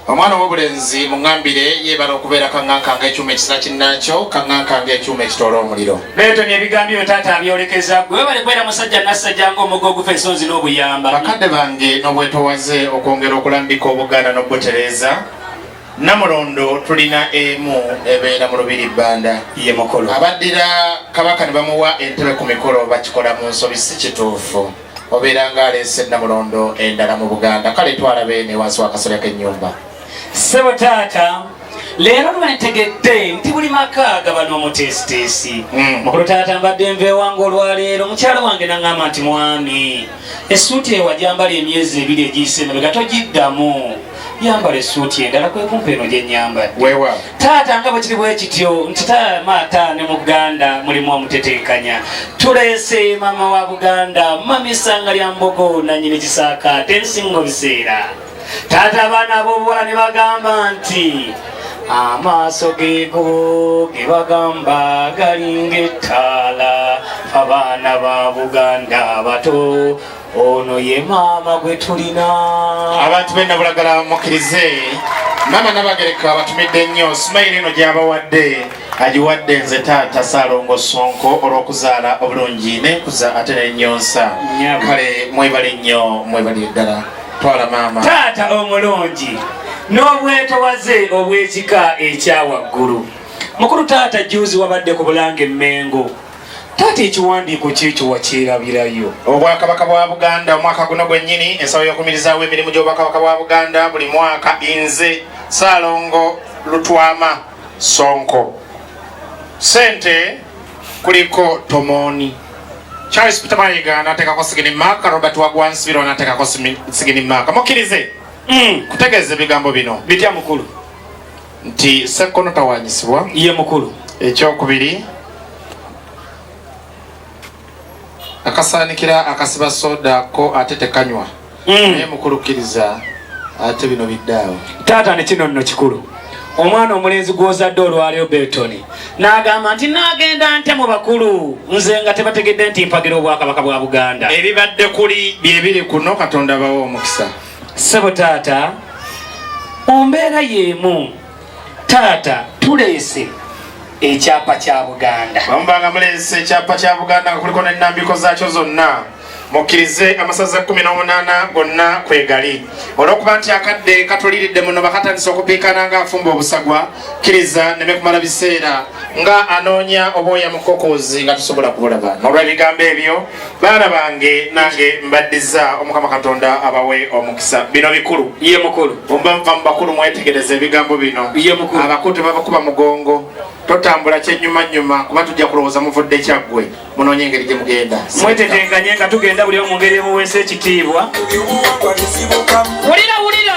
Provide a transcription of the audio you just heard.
omwana wobulenzi muŋambire yebala okubeera kaŋanka nga ekyuma ekisira kinnankyo kaŋanka nga ekyuma ekitoola omuliro beetoni ebigambo byo taata abyolekeza gwe webale kubeera musajja nassajja nga omuga ogufa ensonzi n'obuyamba bakadde bange n'obwetowaze okwongera okulambika obuganda n'obutereeza namulondo tulina emu ebeera mu lubiri bbanda ye mukolo abaddira kabaka ne bamuwa entebe ku mikolo bakikola mu nsobi si kituufu obeera nga aleese namulondo endala mu buganda kale twala beene wansi wakasolya kenyumba sebo taata leero lwentegedde nti buli maka gaba n'omuteesiteesi hmm. mukulu taata mbadde nva ewange olwaleero mukyalo wange naŋŋamba nti mwami esuuti ewajambala emyezi ebiri egiyise emabega togiddamu yambala esuuti endala kwekumpa eno gyenyambadde taata nga bwekiri bwekityo nti maata ne muganda mulimu omutetenkanya tuleese maama wa buganda mamisanga lya mbogo nanyini kisaakaate nsingo biseera taata abaana ab'obuwala ne bagamba nti amaaso geego ge bagamba galinga ettaala abaana ba buganda abato ono ye maama gwe tulina abantu benabulagala mukirize maama nabagereka abatumidde nnyo simayiro eno gyabawadde agiwadde nze taata salongo sonko olwokuzaala obulungi nenkuza ate nenyonsa kale mwebale nnyo mwebali eddala twala maama taata omulungi n'obwetowaze obw'ekika ekya waggulu mukulu taata juzi wabadde ku bulanga emmengo taata ekiwandiiko kyekyo wakyerabirayo obwakabaka bwa buganda omwaka guno gwennyini ensaba y'okumirizaawo emirimu gy'obwakabaka bwa buganda buli mwaka inze saalongo lutwama sonko sente kuliko tomoni charles peter mayiga anateekako sigini maaka robert wagwansibiro anateekako sigini maaka mukkirize mm. kutegeeza ebigambo bino bitya mukulu nti sekkono tawanyisibwa ye mukulu ekyokubiri akasaanikira akasiba soda ko ate tekanywa mm. naye mukulukkiriza ate bino biddaawo taata ne kino nno kikulu omwana omulenzi gwozadde olwaleo beltoni n'agamba nti nagenda nte mu bakulu nze nga tebategedde nti mpagira obwakabaka bwa buganda ebibadde kuli byebiri kuno katonda bawa omukisa Ssebo taata mu mbeera y'emu taata tuleese ekyapa kya buganda bamubanga muleese ekyapa kya buganda nga kuliko nenambiko zaakyo zonna mukkirize amasaza 18 gonna kwegali olwokuba nti akadde katuliridde muno bakatandisa okupiikana nga afumba obusagwa kkiriza neme kumala biseera nga anoonya obwoya mukokozi nga tusobola kubulaba nolwebigambo ebyo baana bange nange mbaddiza omukama katonda abawe omukisa bino bikulu ye mukulu omba nva mu bakulu mwetegereza ebigambo bino ye mukulu abakulu tebabakuba mugongo totambula kyenyumanyuma kuba tujja kulowooza muvudde kyaggwe munonye engeri gye mugenda mwetetenkanye nga tugenda buli omu ngeri emuweesa ekitiibwa wulira wulira